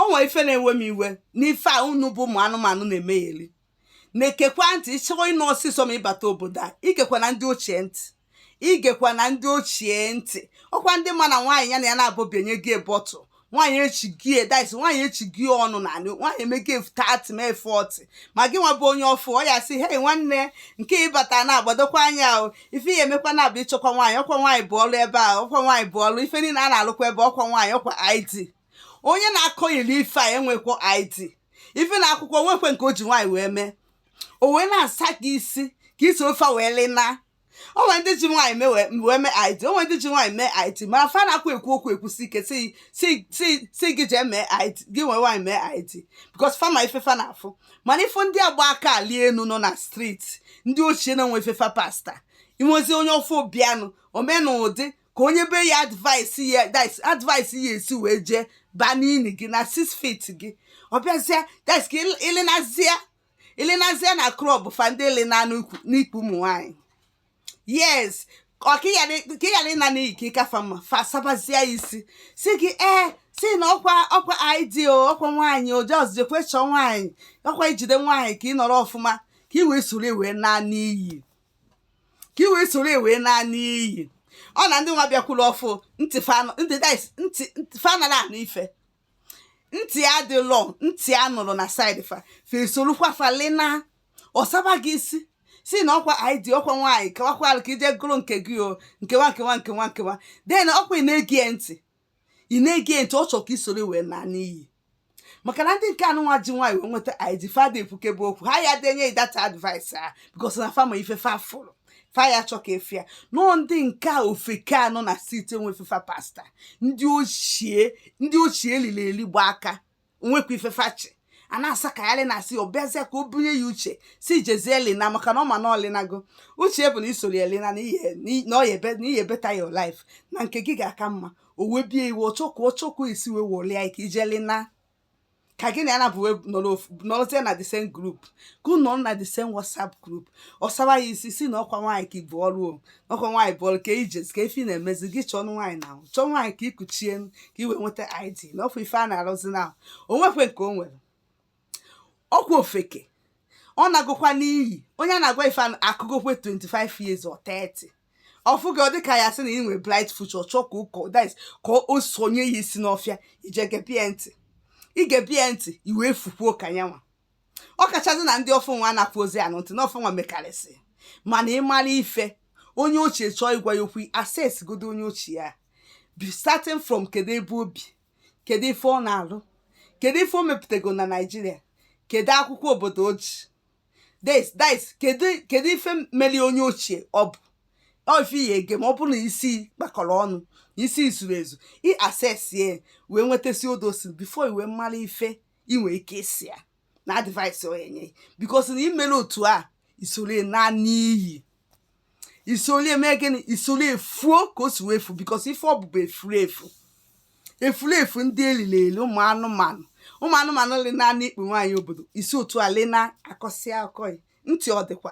o nwere ife na-ewe m iwe n'ife a unu bụ ụmụ anụmanụ na-emegheli na-egekwa ntị ị chọrọ ịnụ ọsịsọ ma ị bata obodo a egekwana ndị ochie ntị egekwana ndị ochie ntị ọkwa ndị ma na nwaanyị ya na ya nabụ bi enye gị bọtụ nwaanyị echi gị edis nwaanyị echi gị ọnụ na anị nwaanyị emege thirty mee forty ma gị nwa bụ onye ọfụ ọ ya-asị hei nwanne nke ị bata na-agbadokwa anya ahụ ife ị ya-emekwa na-abụ ịchọkwa nwaanyị ọkwa nwaanyị bụ ọrụ ebe a ọkwa nwaanyị bụ ọrụ ife niile a na-alụkwa ebe ọkwa nwaanyị ọkwa id onye na-akọghịli ife a enwekwa id even akwụkwọ nwekwe nke o ji nwaanyị wee mee o wee na-asa gị isi ka isi ofe wee lịna o nwere ndị ji nwaanyị mee wee mee id o nwere ndị ji nwaanyị mee id mana fa na-akwa ekwu okwu ekwusi ike sị gị jee mee id gị nwee nwaanyị mee id because fa ma ife fa na-afụ mana ị fụ ndị a gba aka alị enu nọ na street ndị ochie na-enwe ife fa pasta inwezi onye ọfụ ọ bịanụ o mee n'ụdị ka onye be ya advice ya advice ya esi wee jee baa n'ini gị na six feet gị ọ bịazịa dis ka ịlịnazịa ịlịnazịa na club fa ndị ịlịna n'ikpu ụmụ nwaanyị yes ọ ka ị ghara ịna n'iyi ka ị ka fa mma fa sabazịa isi sị gị ee eh, sị na ọkwa ọkwa id o ọkwa nwaanyị o just jekwe chọọ nwaanyị ọkwa ijide nwaanyị ka ị nọrọ ọfụma ka ị wee soro wee na n'iyi ka i wee soro wee naa n'iyi ọ na ndị nwa bịakwuru ọfụ ntị fa anara anụ ife ntị adịlọ ntị a nọrọ na side fa fesorukwa fa lina ọ saba gị isi sị na ọkwa id ọkwa nwaanyị kewakwalụ ka i jee gụrụ nke gị o nkewa nkewa nkewa nkewa then ọkwa ị na-ege ntị ị na-ege ntị ọ chọrọ ka i soro wee naa n'iyi maka na ndị nke anụnwa ji nwaanyị wee nweta id fa ada ekwukebe okwu ha ya denye that advice a because na fa ma ife fa fụrụ fa ya chọ ka efe ya nọọ ndị nke a ofeke a nọ na street enwe ife fa pasta ndị ochie ndị ochie eliri eli gba aka nwekwa ife fa chị a na-asakagharị na asị ọ bịazịa ka o bunye ya uche sị jezie lina maka na ọ ma na o linago uche bụ na i soro elina na ihe- n'i- na ọ ya ebe- na ị ya-better your life na nke gị ga-aka mma o wee bie iwe ọ chọkwa ọ chọkwa esi wee wọlịa ike ije lina ka gị na ya nabụ nọrọzie na the same group ka unu nọrọ na the same whatsapp group ọ sawa ya isi sị na ọkwa nwaanyị ka ibu ọrụ o ọkwa nwaanyị bụ ọlụ ka ijez ka ife na-emezi gị chọọ ọnụ nwaanyị na ahụ chọọ nwaanyị ka i kuchie ka i wee nweta id na ọkwa ife a na-arụzi na ahụ o nwekwe nke o nwere ọkwa ofeke ọ nagokwa n'iyi onye a na-agwa ife anụ akụgokwe 25 years or 30 ọ fụ gị ọ dị ka ya sị na ị nwere bright future chọọ ka ụkọ dis ka o sonye ya isi n'ọfịa i jee gebie ntị i gebie ntị i wee fukwuo ka nyanwa ọ kachasị na ndị ọfụ nwa anarọzi anụ ntị na ọfụ nwa mekarịsị mana ịmara ife onye ochie chọọ ịgwa ya okwu assess godu onye ochie ya by starting from kedu ebe o bi kedu ife ọ na-alụ kedu ife o mepụtago na naịjirịa kedu akwụkwọ obodo o ji des dis kedu kedu ife meli onye ochie ọ bụ ọ ife ya ege ma ọ bụrụ na isi kpakọrọ ọnụ na isi zuru ezu ị assess ya wee nwetasị all those before i wee mara ife ị nwere ike ịsị ya na advice ọ ya-enye because na i mere otu a i sole naa n'iyi i sole mee gịnị i sole fuo ka o si wee efu because ife ọ bụ bụ efuru efu efuru efu ndị eliri eli ụmụ anụmanụ ụmụ anụmanụ lena na ikpu nwaanyị obodo isi otu a lena akọsịa akọghị ntị ọ dịkwa